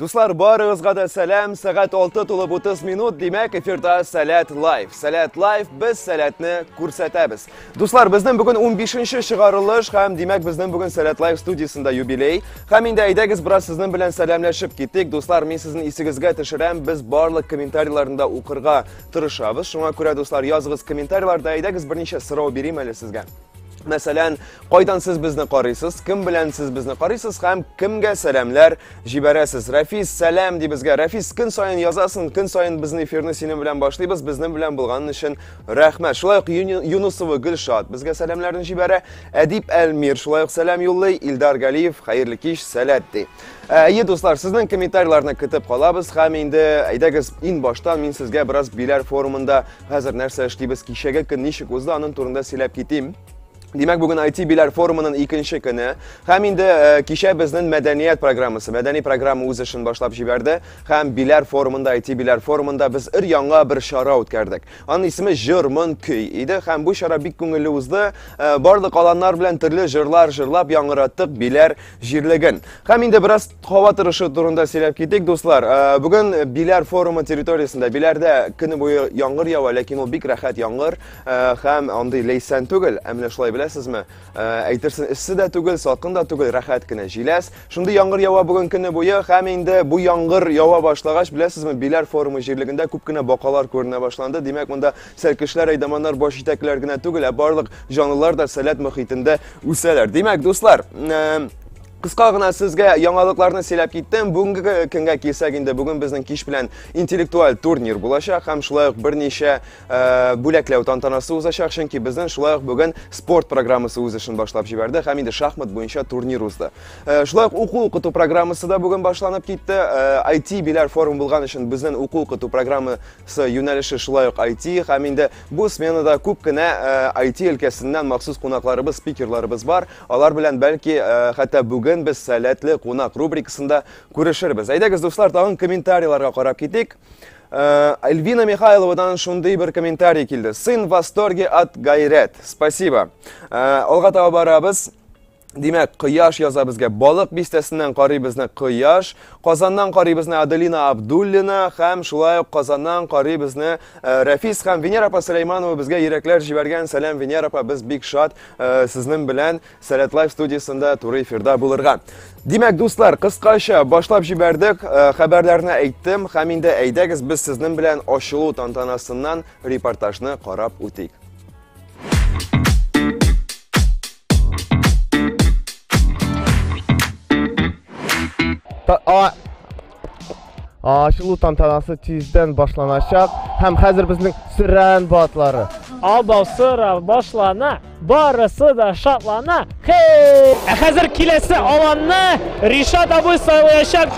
Дуслар, барыгызга да сәлам. Сәгать 6 тулып 30 минут, димәк, эфирда Сәләт Лайф. Сәләт Лайф, без сәләтне күрсәтәбез. Дуслар, безнең бүген 15-нче чыгарылыш һәм димәк, безнең бүген Сәләт Лайф студиясендә юбилей. Һәм инде әйдәгез бераз сезнең белән сәламләшеп китик. Дуслар, мин сезнең исегезгә төшерәм, без барлык комментарийларында укырга тырышабыз. Шуңа күрә, дуслар, языгыз комментарийларда, әйдәгез берничә сорау бирим әле сезгә. Мәсәлән, кайдан сез безне карыйсыз, кем белән сез безне карыйсыз һәм кемгә сәламләр җибәрәсез. Рәфис, сәлам ди безгә. Рәфис, көн саен язасың, көн саен безнең эфирны синең белән башлыйбыз, безнең белән булган өчен рәхмәт. Шулай ук Юнусова Гөлшат безгә сәламләрен җибәрә. Әдип Әлмир шулай ук сәлам юллый. Илдар Галиев, хәерле кич, сәләт ди. Ә, әйе, дуслар, сезнең комментарийларны көтеп калабыз һәм инде әйдәгез ин баштан мин сезгә бераз биләр форумында Хәзер нәрсә эшлибез, кичәге көн ничек узды, анын турында сөйләп китим. Димәк, бүген IT биләр форумының икенче көне. Хәм инде э, кичә безнең мәдәният программасы, мәдәни программа үз эшен башлап җибәрде. Хәм биләр форумында, IT биләр форумында без ир яңа бер чара үткәрдек. Аның исеме Җырмын көй иде. Хәм бу чара бик күңелле узды. Э, барлык аланнар белән төрле җырлар җырлап яңгыраттык, биләр җирлеген. Һәм инде бераз һава торышы турында сөйләп китик, дуслар. Э, бүген Биләр форумы территориясендә, Биләрдә көне буе яңгыр ява, ләкин ул бик рәхәт яңгыр э, һәм андый ләйсән түгел. Ә менә шулай беләсезме? Э, әйтерсең, эссе дә түгел, салкын да түгел, рәхәт кенә җиләс. Шундый яңгыр ява бүген көне буе һәм инде бу яңгыр ява башлагач, беләсезме, Биләр форумы җирлегендә күп кенә бакалар күренә башланды. Димәк, монда Сәркешләр, әйдаманнар баш җитәкләр генә түгел, ә барлык җанлылар да сәләт мөхитендә үсәләр. Димәк, дуслар, Кыска гына сезгә яңалыкларны сөйләп киттем. Бүгенге көнгә килсәк инде, бүген безнең кич белән интеллектуаль турнир булачак һәм шулай ук берничә э, бүләкләү тантанасы узачак, чөнки безнең шулай ук бүген спорт программасы үз эшен башлап җибәрде һәм инде шахмат буенча турнир узды. Э, шулай ук уку укыту программасы да бүген башланып китте. IT э, биләр форум булган өчен безнең уку укыту программы Сы юнәлеше шулай ук IT, һәм инде бу сменада күп кенә IT э, өлкәсеннән махсус кунакларыбыз, спикерларыбыз бар. Алар белән бәлки э, хәтта бүген без сәләтле кунак рубрикасында күрешербез. Әйдәгез, дуслар, тагын комментарийларга карап китик. Э, Эльвина Михайловадан шундый бер комментарий килде. Сын в восторге от Гайрет. Спасибо. Алга таба барабыз. Димәк, Кояш яза безгә. Балык бистәсеннән карый безне Кояш, Казаннан карый безне Аделина Абдуллина һәм шулай ук Казаннан карый безне э, Рәфис һәм Венера апа Сөләйманова безгә йөрәкләр җибәргән. Сәлам Венера апа, без бик шат э, сезнең белән Сәләт Лайф студиясендә туры эфирда булырга. Димәк, дуслар, кыскача башлап җибәрдек, э, хәбәрләрне әйттем һәм инде әйдәгез без сезнең белән ачылу тантанасыннан репортажны карап үтик. Ашылу тантанасы тиздән башланачак һәм хәзер безнең сөрән батлары. Абау сыра башлана, барысы да шатлана. Хей! Ә хәзер киләсе аланны Ришат абый сайлаячак.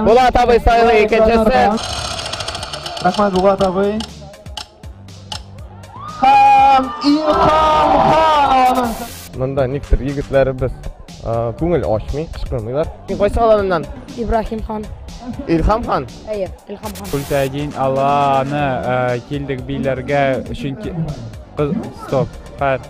Булат абый сайлый икенчесе. Рахмат Булат абый. Хам Илхам хан. Монда никтер егетләребез күңел ашмый, кычкырмыйлар. Син кайсы аланыннан? Ибрахим хан. Илхам хан? Әйе, Илхам хан. Күлтәдин Алланы килдек биләргә, чөнки... Стоп, хәт.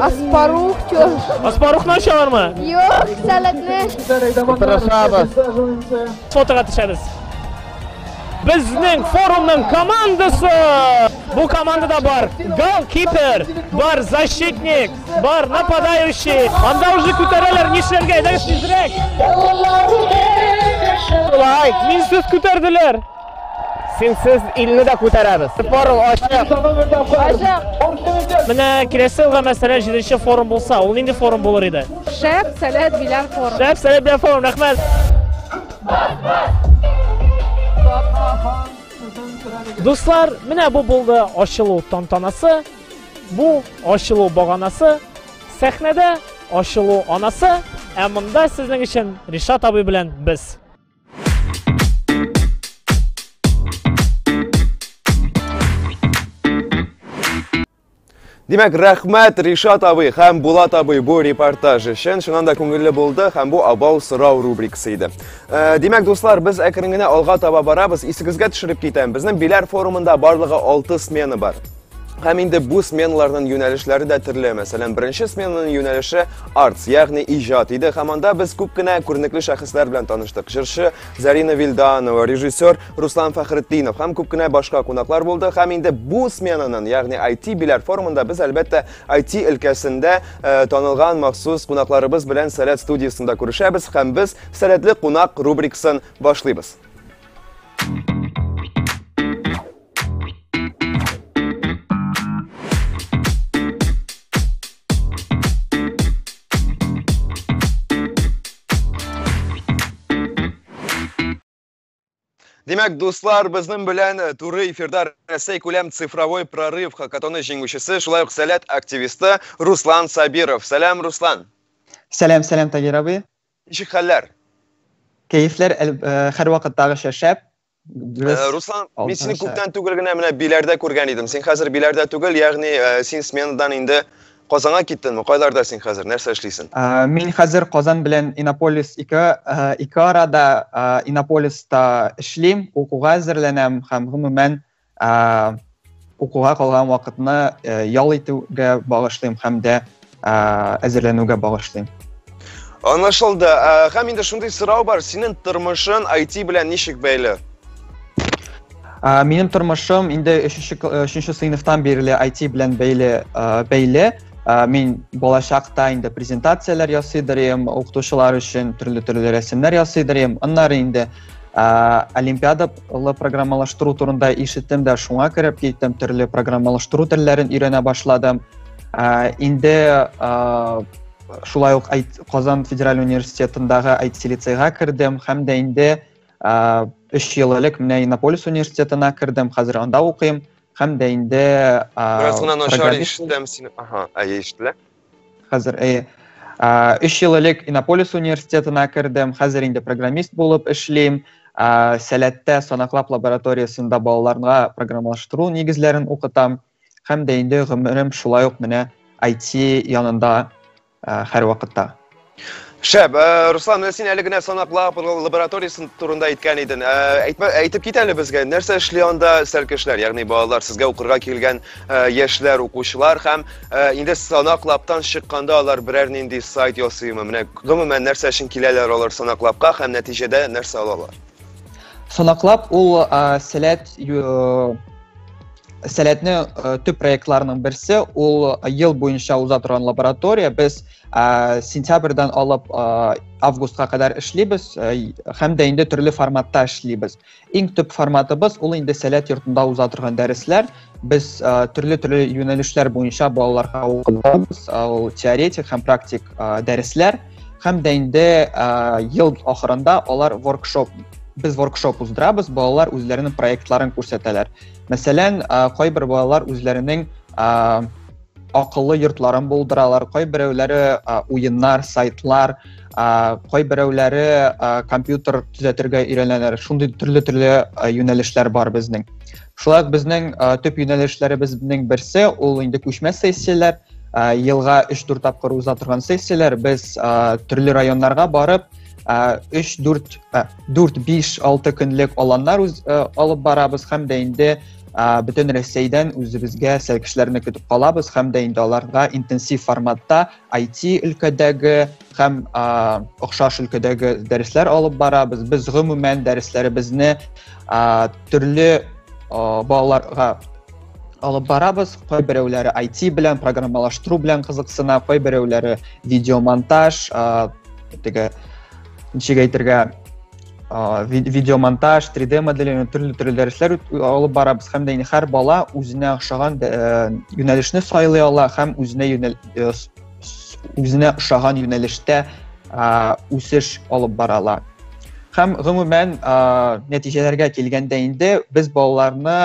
Аспарух чор. Аспарухны ашалармы? Юк, сәләтне. Тырышабыз. Фотога төшәбез. Безнең форумның командасы! Бу командада бар голкипер, бар защитник, бар нападающий. Анда уже күтәрәләр, нишләргә, әйдәгез тизрәк. Шулай, мин сүз күтәрделәр. Синсез илне дә күтәрәбез. Форум ачык. Ачык. Менә киләсе елга мәсәлән 7 форум булса, ул нинди форум булыр иде? Шәп, сәләт, биләр форум. Шәп, сәләт, биләр форум. Рәхмәт. Дуслар, менә бу булды ачылу тантанасы. Бу ачылу баганасы. Сәхнәдә ачылу анасы. Ә монда сезнең өчен Ришат абый белән без. Димәк, рәхмәт Ришат абый һәм Булат абый бу репортаж өчен. Шуннан да күңелле булды һәм бу абау сорау рубрикасы иде. Э, димәк, дуслар, без әкрен генә алга таба барабыз. Исегезгә төшереп китәм, безнең Биләр форумында барлыгы 6 смена бар. Һәм инде бу сменаларның юнәлешләре дә төрле. Мәсәлән, беренче сменаның юнәлеше арт, ягъни иҗат иде. Һәм анда без күп кенә күренекле шәхесләр белән таныштык. Җырчы Зарина Вилданова, режиссер Руслан Фәхретдинов һәм күп кенә башка кунаклар булды. Һәм инде бу сменаның, ягъни IT биләр форумында без әлбәттә IT өлкәсендә э, танылган махсус кунакларыбыз белән Сәләт студиясендә күрешәбез һәм без Сәләтле кунак рубрикасын башлыйбыз. Демәк, дуслар, безнең белән э, туры эфирда Рәсәй күләм цифровой прорыв хакатоны җиңүчесе, шулай ук сәләт активисты Руслан Сабиров. Сәлам, Руслан. Сәлам, сәлам, Тагир абый. Ничек хәлләр? Кәефләр э, һәр вакыттагыча шәп. Без э, Руслан, мин сине күптән түгел генә менә Биләрдә күргән идем. Син хәзер Биләрдә түгел, ягъни э, син сменадан инде Казанга киттеңме? Кайларда син хәзер? Нәрсә эшлисең? Э, мин хәзер Казан белән Иннополис ике ике арада Иннополиста эшлим, укуга әзерләнәм һәм гомумән ә, укуга калган вакытны ә, ял итүгә багышлыйм һәм дә ә, әзерләнүгә багышлыйм Анашылды. Ә, һәм инде шундый сорау бар, синең тормышын IT белән ничек бәйле? Ә, минем тормышым инде 3-нче 3-нче сыйныфтан бирле IT белән бәйле бәйле. Ә, мин балачакта инде презентацияләр ясыйдырым, укытучылар өчен төрле-төрле рәсемнәр ясыйдырым. Аннары инде ә, олимпиадалы программалаштыру турында ишеттем дә шуңа кереп киттем төрле программалаштыру телләрен өйрәнә башладым ә, инде ә, шулай ук казан федераль университетындагы IT лицейга кердем һәм дә инде ә, өч ел элек менә иннополис университетына кердем хәзер анда укыйм һәм дә инде ә, бераз гына начар ишетәм сине ага әйе ишетелә Хәзер, әйе. Өч ел элек Иннополис университетына кердем, хәзер инде программист булып эшлим. Сәләттә санаклап лабораториясендә балаларга программалаштыру нигезләрен укытам. Һәм дә инде гомерем шулай ук менә IT янында һәрвакытта. Шәп, э, Руслан, менә син әле генә санак лабораториясе турында әйткән иден. Э, әйтмә, әйтеп кит әле безгә, нәрсә эшли анда сәл кешеләр, ягъни балалар, сезгә укырга килгән э, яшьләр, укучылар һәм инде санак лаптан чыкканда алар берәр нинди сайт ясыймы? Менә гомумән нәрсә өчен киләләр алар санак лапка һәм нәтиҗәдә нәрсә алалар? Санак лап ул сәләт сәләтне төп проектларының берсе, ул ел буенча уза торган лаборатория. Без ә, сентябрьдан алып ә, августка кадәр эшлибез ә, һәм дә инде төрле форматта эшлибез иң төп форматыбыз ул инде сәләт йортында уза торган дәресләр без ә, төрле төрле юнәлешләр буенча балаларга укытабыз ул теоретик һәм практик ә, дәресләр һәм дә инде ә, ел ахырында алар воркшоп без воркшоп уздырабыз балалар үзләренең проектларын күрсәтәләр мәсәлән ә, кайбер балалар үзләренең ә, Акыллы йортларын булдыралар, кайберәүләре уеннар, сайтлар, кайберәүләре компьютер төзәтергә өйрәнәләр. Шундый төрле-төрле юнәлешләр бар безнең. Шулай ук безнең төп юнәлешләребезнең берсе ул инде күчмә сессияләр, елга 3-4 тапкыр уза торган сессияләр. Без төрле районнарга барып, 3-4 4-5-6 көнлек аланнар алып барабыз һәм дә инде Ә, бөтен Рәсәйдән үзебезгә сәлкешләрне көтеп калабыз һәм дә инде аларга интенсив форматта IT өлкәдәге һәм ә, охшаш өлкәдәге дәресләр алып барабыз. Без гомумән дәресләребезне ә, төрле ә, балаларга алып барабыз. Кайберәүләре IT белән, программалаштыру белән кызыксына, кайберәүләре видеомонтаж, ә, теге ничек әйтергә, видеомонтаж 3d моделләү төрле төрле дәресләр алып барабыз һәм дә һәр бала үзенә охшаган юнәлешне сайлый ала һәм үзенә юнәл үзенә охшаган юнәлештә үсеш алып бара ала һәм гомумән нәтиҗәләргә килгәндә инде без балаларны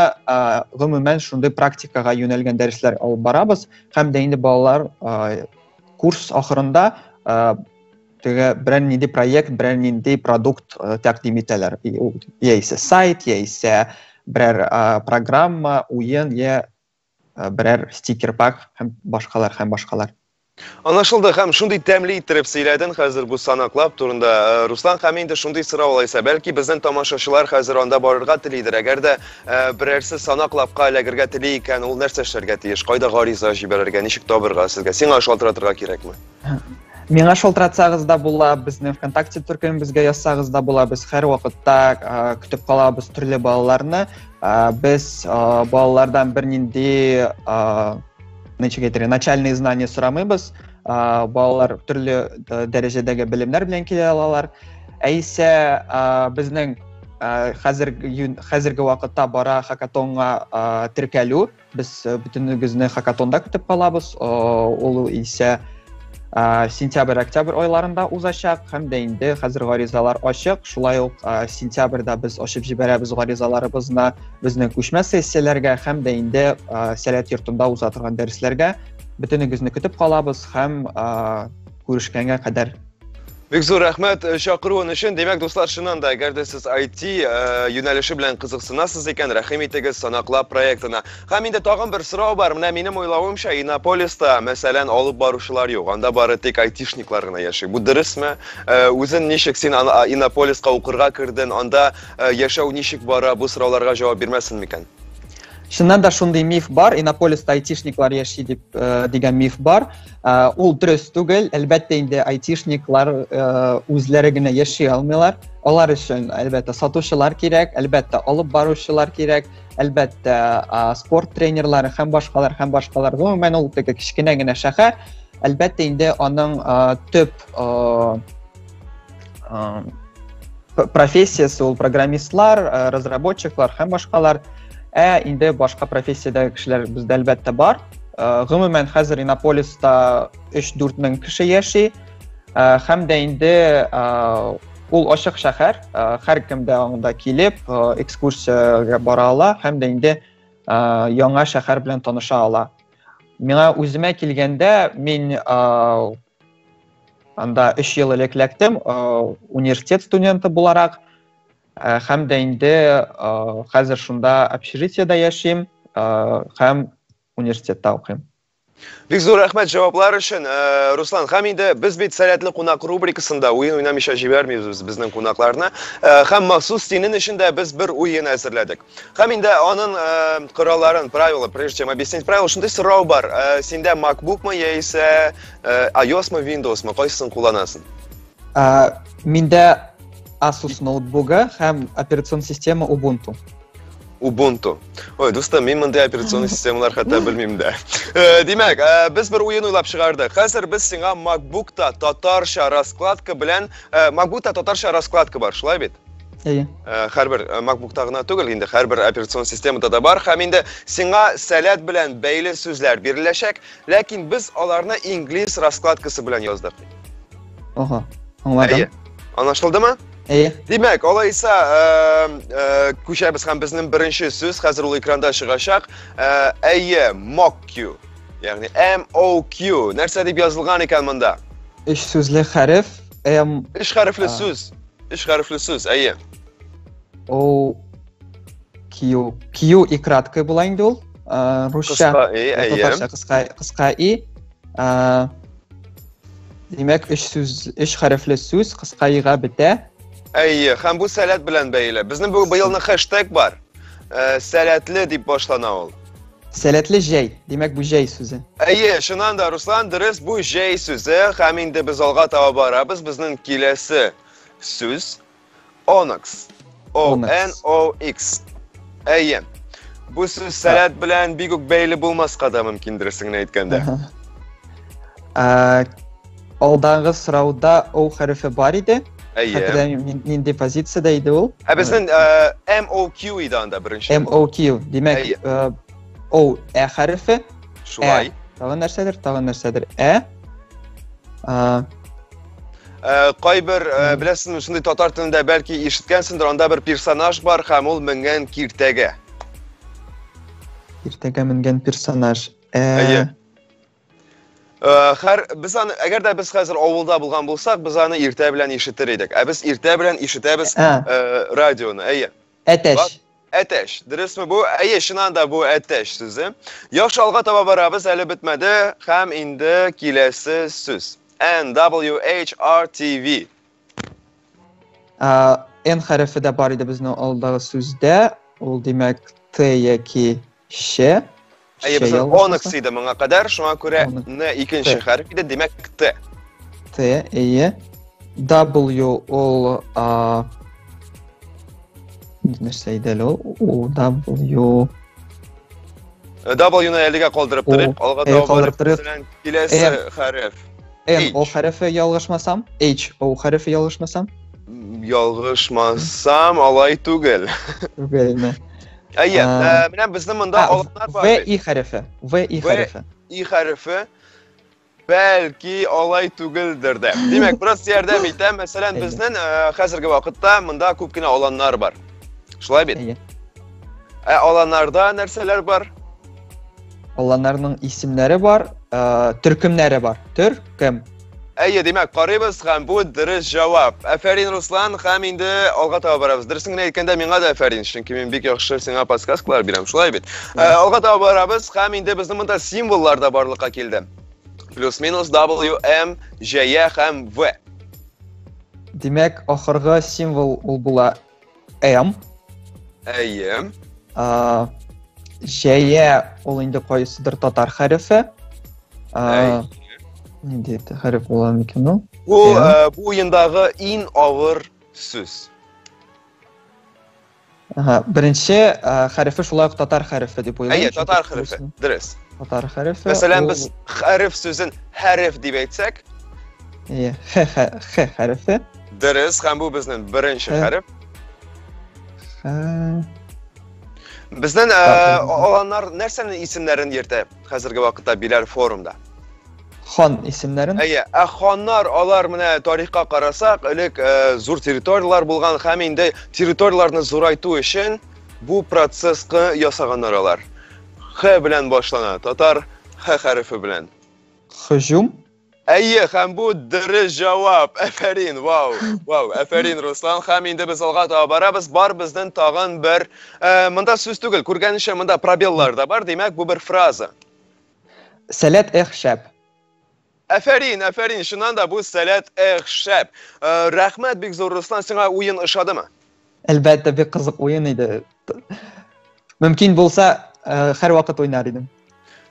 гомумән шундый практикага юнәлгән дәресләр алып барабыз һәм дә инде балалар курс ахырында теге берәр нинди проект, берәр нинди продукт э, тәкъдим итәләр. Яисә сайт, яисә берәр э, программа, уен, я э, берәр стикер пак һәм башкалар һәм башкалар. Анашылды һәм шундый тәмле иттереп сөйләден хәзер бу санаклап турында. Э, Руслан һәм инде шундый сорау алайса, бәлки безнең тамашачылар хәзер анда барырга телидер. Әгәр дә э, берәрсе санаклапка эләгергә тели икән, ул нәрсә эшләргә тиеш? Кайда гариза җибәрергә, ничек табырга сезгә? Сиңа шалтыратырга кирәкме? Миңа шалтыратсагыз да була, безнең ВКонтакте төркемебезгә язсагыз да була, без һәрвакытта көтеп калабыз төрле балаларны. Без балалардан бернинди ничек әйтергә, начальные знания сорамыйбыз. Балалар төрле дәрәҗәдәге белемнәр белән килә алалар. Әйсә безнең хәзерге хәзерге вакытта бара хакатонга теркәлү. Без э, бөтенегезне хакатонда көтеп калабыз. Ул исә сентябрь-октябрь айларында узачак һәм дә инде хәзер гаризалар ачык. Шулай ук сентябрьдә без ачып җибәрәбез гаризаларыбызны безнең күчмә сессияләргә һәм дә инде сәләт йортында уза торган дәресләргә. Бөтенегезне көтеп калабыз һәм Күрешкәнгә кадәр. Бик зур рәхмәт э, чакыруын өчен. Димәк, дуслар, чыннан да, әгәр дә сез IT э, юнәлеше белән кызыксынасыз икән, рәхим итегез санаклап проектына. Һәм инде тагын бер сорау бар. Менә минем уйлавымча, Иннополиста, мәсәлән, алып баручылар юк. Анда бары тик айтишниклар гына яши. Бу дөресме? Э, үзен ничек син Иннополиска укырга керден? Анда яшәү ничек бара? Бу сорауларга җавап бирмәсен микән? Чыннан да шундый миф бар, Иннополиста айтишниклар яши дип дигән миф бар. Ә, ул дөрес түгел әлбәттә инде айтишниклар ә, үзләре генә яши алмыйлар алар өчен әлбәттә сатучылар кирәк әлбәттә алып баручылар кирәк әлбәттә ә, спорт тренерлары һәм башкалар һәм башкалар гомумән ул теге кечкенә генә шәһәр әлбәттә инде аның ә, төп ә, профессиясе ул программистлар э, разработчиклар һәм башкалар ә инде башка профессиядәге кешеләр бездә әлбәттә бар э, гомумән хәзер иннополиста 3-4 мең кеше яши э, һәм дә инде ул ачык шәһәр һәр кем дә анда килеп экскурсиягә бара ала һәм дә инде яңа шәһәр белән таныша ала миңа үземә килгәндә мин Анда 3 ел элек ләктем, университет студенты буларак, һәм дә инде хәзер шунда общежитиедә яшим, һәм университетта укыйм. Бик зур рәхмәт җаваплар өчен, э, Руслан. Һәм инде без бит Сәләтле кунак рубрикасында уен уйнамыйча җибәрмибез безнең кунакларны. Э, һәм махсус синең өчен дә без бер уен әзерләдек. Һәм инде анын коралларын, правила, прежде чем объяснить правила, шундый сорау бар. Синдә MacBook мы яисә iOS мы, Windows мы, кайсысын кулланасың? Миндә Asus ноутбугы һәм операцион система Ubuntu. Ubuntu. Ой, дустым, мин мондый операцион системалар хәтта белмим дә. Димәк, без бер уен уйлап чыгардык. Хәзер без сиңа MacBook-та татарча раскладка белән, MacBook-та татарча раскладка бар, шулай бит? Әйе. Э, һәрбер э, MacBook-та гына түгел, инде һәрбер операцион системада да бар. Һәм инде сиңа сәләт белән бәйле сүзләр биреләчәк, ләкин без аларны инглиз раскладкасы белән яздык. Ага, аңладым. Әйе. Анашылдымы? Әйе. Димәк, алайса, э, күчәбез һәм безнең беренче сүз хәзер ул экранда чыгачак. Әйе, MOQ. Ягъни MOQ. Нәрсә дип язылган икән монда? Өч сүзле хәреф. М. Өч хәрефле сүз. Өч хәрефле сүз, әйе. Ул кию, кию и краткое була инде ул. Э, русча. Кыска и, әйе. Татарча кыска, кыска и. Э, димәк, өч сүз, өч хәрефле сүз кыска ига бетә. Әйе, һәм бу сәләт белән бәйле. Безнең бу быелны хэштег бар. Э, сәләтле дип башлана ул. Сәләтле җәй, димәк бу җәй сүзе. Әйе, чыннан да Руслан дөрес, бу җәй сүзе. Һәм инде без алга таба барабыз. Безнең киләсе сүз Onyx. O N O X. Әйе. Бу сүз сәләт белән бик үк бәйле булмаска да мөмкин дөресен әйткәндә. Ә, Алдагы сорауда O хәрефе бар иде. Әйе. Хәтерләм мин- нинди позициядә иде ул. Ә безнең э, MOQ иде анда беренче. MOQ. Димәк, Әйе. э, O Ә хәрефе, Шулай. тагын нәрсәдер, тагын нәрсәдер. Ә. А, Э, Кайбер, э, Мгм. беләсеңме, шундый татар телендә бәлки ишеткәнсеңдер, анда бер персонаж бар һәм ул менгән киртәгә. иртәгә менгән персонаж. Ә. Әйе. Э, хәр без аны әгәр дә без хәзер авылда булган булсак, без аны иртә белән ишетер идек. Ә без иртә белән ишетәбез Ә. э, радионы. Әйе. Әтәч. Әтәч. Дөресме бу? Әйе, чыннан да бу әтәч сүзе. Яхшы алга таба барабыз, әле бетмәде һәм инде киләсе сүз. N W H R T V. Ә, Н хәрефе дә бар иде безнең алдагы сүздә. Ул димәк Т яки Ше. Әйе, без онык сыйды моңа кадәр, шуңа күрә н икенче хәреф иде, димәк т. Т, әйе. W ул а нәрсә иде әле ул? У W W-ны әлегә калдырып торыйк. Алга таба калдырып торыйк. Киләсе хәреф. N ул хәрефе ялгышмасам, H ул хәрефе ялгышмасам. Ялгышмасам, алай түгел. Түгелме? Әйе, ә, менә безнең монда алымнар бар. В и хәрефе. В и хәрефе. И хәрефе. Бәлки алай түгелдер дә. Димәк, бераз ярдәм итә. Мәсәлән, безнең хәзерге вакытта монда күп кенә аланнар бар. Шулай бит? Әйе. Ә аланнарда нәрсәләр бар? Аланнарның исемнәре бар, төркемнәре бар. Төркем. Әйе, димәк, карыйбыз һәм бу дөрес җавап. Әфәрин, Руслан, һәм инде алга таба барабыз. Дөресен генә әйткәндә, миңа да әфәрин, чөнки мин бик яхшы сиңа подсказкалар бирәм, шулай бит? Ә, алга таба барабыз һәм инде безнең монда символлар да барлыкка килде. Плюс-минус W, M, J, һәм V. Димәк, ахыргы символ ул була М. Әйе. А, Җәя ул инде кайсыдыр татар хәрефе. А, Нинди хәреф була микән ул? Бу э, бу уендагы иң авыр сүз. Ага, беренче э, хәрефе шулай ук татар хәрефе дип уйлыйм. Әйе, татар хәрефе. Дөрес. Татар хәрефе. Мәсәлән, без хәреф сүзен хәреф дип әйтсәк, Әйе, х хәрефе. Дөрес, һәм бу безнең беренче хәреф. Безнең аланнар нәрсәнең исемнәрен йөртә хәзерге вакытта Биләр форумда? Хан исемнәрен. Әйе, ә ханнар алар менә тарихка карасак, элек зур территорияләр булган һәм инде территорияләрне зурайту өчен бу процесска ясаганнар алар. Х белән башлана, татар Х хәрефе белән. Хожум? Әйе, һәм бу дөрес җавап. Әфәрин, вау, вау, әфәрин, Руслан. Һәм инде без алга таба барабыз. Бар безден тагын бер, э, монда сүз түгел, күргәнеңчә монда пробеллар да бар, димәк, бу бер фраза. Сәләт эх шәп. Әфәрин, әфәрин, чыннан да бу сәләт эх шәп. Э, Рәхмәт бик зур, Руслан, сиңа уен ошадымы? Әлбәттә, бик кызык уен иде. Мөмкин булса, э, һәр вакыт уйнар идем.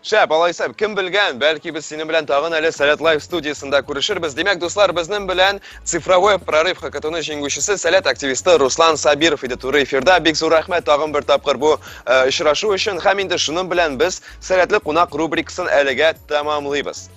Шәп, алайса, кем белгән, бәлки без синең белән тагын әле Сәләт Лайв студиясендә күрешербез. Димәк, дуслар, безнең белән цифровой прорыв хакатуны җиңүчесе Сәләт активисты Руслан Сабиров иде туры эфирда. Бик зур рәхмәт тагын бер тапкыр бу э, очрашу өчен. Һәм инде шуның белән без Сәләтле кунак рубрикасын әлегә тәмамлыйбыз.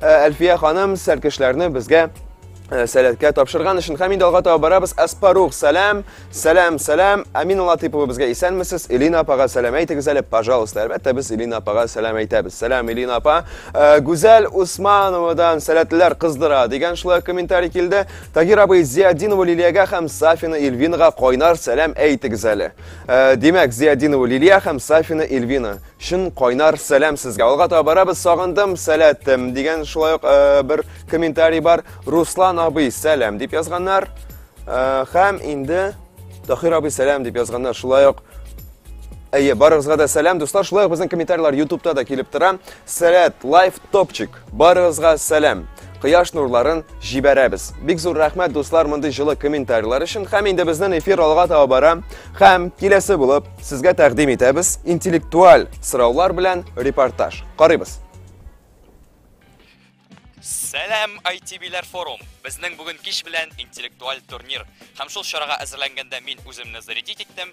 Э, Әлфия ханым сәркешләрне безгә э, сәләткә тапшырган өчен һәм инде алга таба барабыз. Аспарух, сәлам, сәлам, сәлам. Амина Латыпова безгә исәнмесез. Элина апага сәлам әйтегез әле, пожалуйста. Әлбәттә, без Элина апага сәлам әйтәбез. Сәлам, Элина апа. Э, Гүзәл Усмановадан сәләтләр кыздыра дигән шулай комментарий килде. Тагир абый Зиадинова Лилиягә һәм Сафина Ильвинага кайнар сәлам әйтегез әле. Димәк, Зиадинова Лилия һәм Сафина Ильвина. Чын кайнар сәлам сезгә. Алга таба барабыз, сагындым, сәләтем дигән шулай ук э, бер комментарий бар. Руслан абый, сәлам дип язганнар. Э, һәм инде Тахир абый, сәлам дип язганнар. Шулай ук Әйе, барыгызга да сәлам, дуслар. Шулай ук безнең комментарийлар YouTube-та да килеп тора. Сәләт, лайф топчик. Барыгызга сәлам! Кояш нурларын җибәрәбез. Бик зур рәхмәт, дуслар, мондый җылы комментарийлар өчен. Һәм инде безнең эфир алга таба бара. Һәм киләсе булып сезгә тәкъдим итәбез интеллектуаль сораулар белән репортаж. Карыйбыз. Сәлам, ITB-ләр форум! Безнең бүген кич белән интеллектуаль турнир. Һәм шул чарага әзерләнгәндә мин үземне зарядить иттем.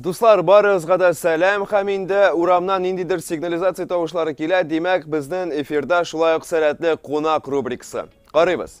Дуслар, барыгызга да сәлам һәм инде урамнан ниндидер сигнализация тавышлары килә, димәк, безнең эфирда шулай ук сәләтле кунак рубрикасы. Карыйбыз.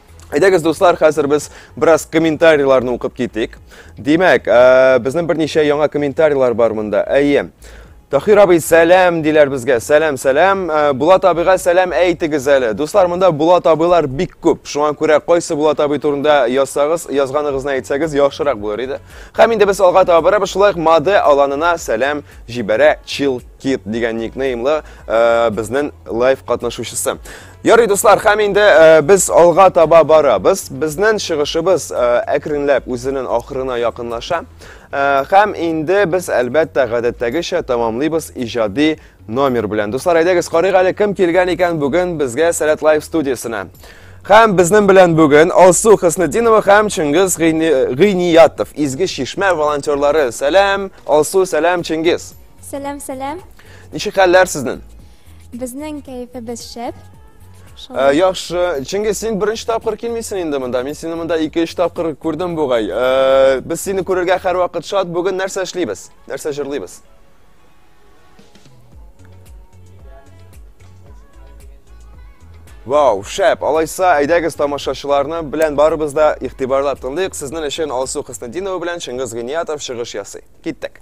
Әйдәгез, дуслар, хәзер без бераз комментарийларны укып китик. Димәк, ә, безнең берничә яңа комментарийлар бар монда. Әйе. Тахир абый, сәлам диләр безгә. Сәлам, сәлам. Ә, Булат абыйга сәлам әйтегез әле. Дуслар, монда Булат абыйлар бик күп. Шуңа күрә кайсы Булат абый турында язсагыз, язганыгызны әйтсәгез яхшырак булыр иде. Һәм инде без алга таба барабыз. Шулай ук Маде аланына сәлам җибәрә Чилкит дигән никнеймлы ә, безнең лайв катнашучысы. Ярый, дуслар, хәм инде э, без алга таба барабыз. Безнең чыгышыбыз э, әкренләп үзенең ахырына якынлаша. Э, хәм инде без әлбәттә гадәттәгечә тамамлыйбыз иҗади номер белән. Дуслар, әйдәгез карыйк әле кем килгән икән бүген безгә Сәләт Лайф студиясенә. Хәм безнең белән бүген Алсу Хыснетдинова һәм Чингиз Гыйниятов, Изге Чишмә волонтерлары. Сәлам, Алсу, сәлам, Чингиз. Сәлам, сәлам. Ничек хәлләр сезнең? Безнең кәефебез шәп. Ә, яхшы. Чөнки син беренче тапкыр килмисең инде монда. Мин сине монда ике өч тапкыр күрдем бугай. Ә, без сине күрергә һәрвакыт шат. Бүген нәрсә эшлибез? Нәрсә җырлыйбыз? Вау, шәп! Алайса, әйдәгез тамашачыларны белән барыбыз да игътибарлап тыңлыйк. Сезнең өчен Алсу Хыснетдинова белән Чыңгыз Гыниятов чыгыш ясый. Киттек!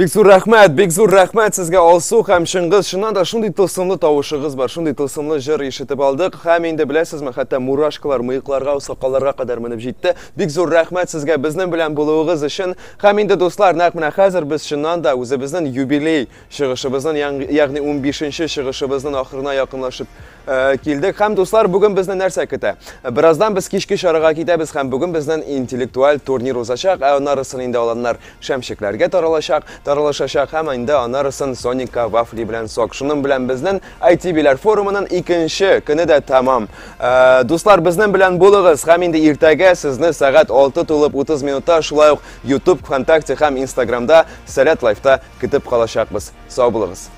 Бик зур рәхмәт, бик зур рәхмәт сезгә Алсу һәм Чыңгыз. Чыннан да шундый тылсымлы тавышыгыз бар, шундый тылсымлы җыр ишетеп алдык. Һәм инде беләсезме, хәтта мурашкалар мыекларга, сакалларга кадәр менеп җитте. Бик зур рәхмәт сезгә безнең белән булуыгыз өчен. Һәм инде, дуслар, нәкъ менә хәзер без чыннан да үзебезнең юбилей чыгышыбызның, ягъни унбишенче чыгышыбызның ахырына якынлашып Э, килдек һәм дуслар бүген безне нәрсә көтә бераздан без кичке чарага китәбез һәм бүген безнен интеллектуаль турнир узачак ә анарысын инде аланнар шәмшекләргә таралачак таралышачак һәм инде анарысын соника вафли белән сок шуның белән безнен айти биләр форумының икенче көне дә тәмам э, дуслар безнен белән булыгыз һәм инде иртәгә сезне сәгать 6 тулып 30 минутта шулай ук ютуб вконтакте һәм инстаграмда сәләт лайфта көтеп калачакбыз сау булыгыз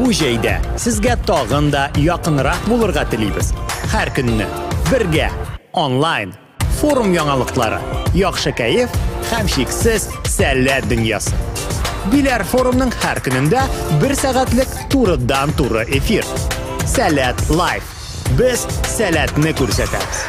Бу җәйдә сезгә тагын да якынрак булырга телибез. Һәр көнне бергә, онлайн, форум яңалыклары, яхшы кәеф һәм чиксез сәләт дөньясы. Биләр форумның һәр көнендә бер сәгатьлек турыдан-туры эфир. Сәләт Лайф. Без сәләтне күрсәтәбез.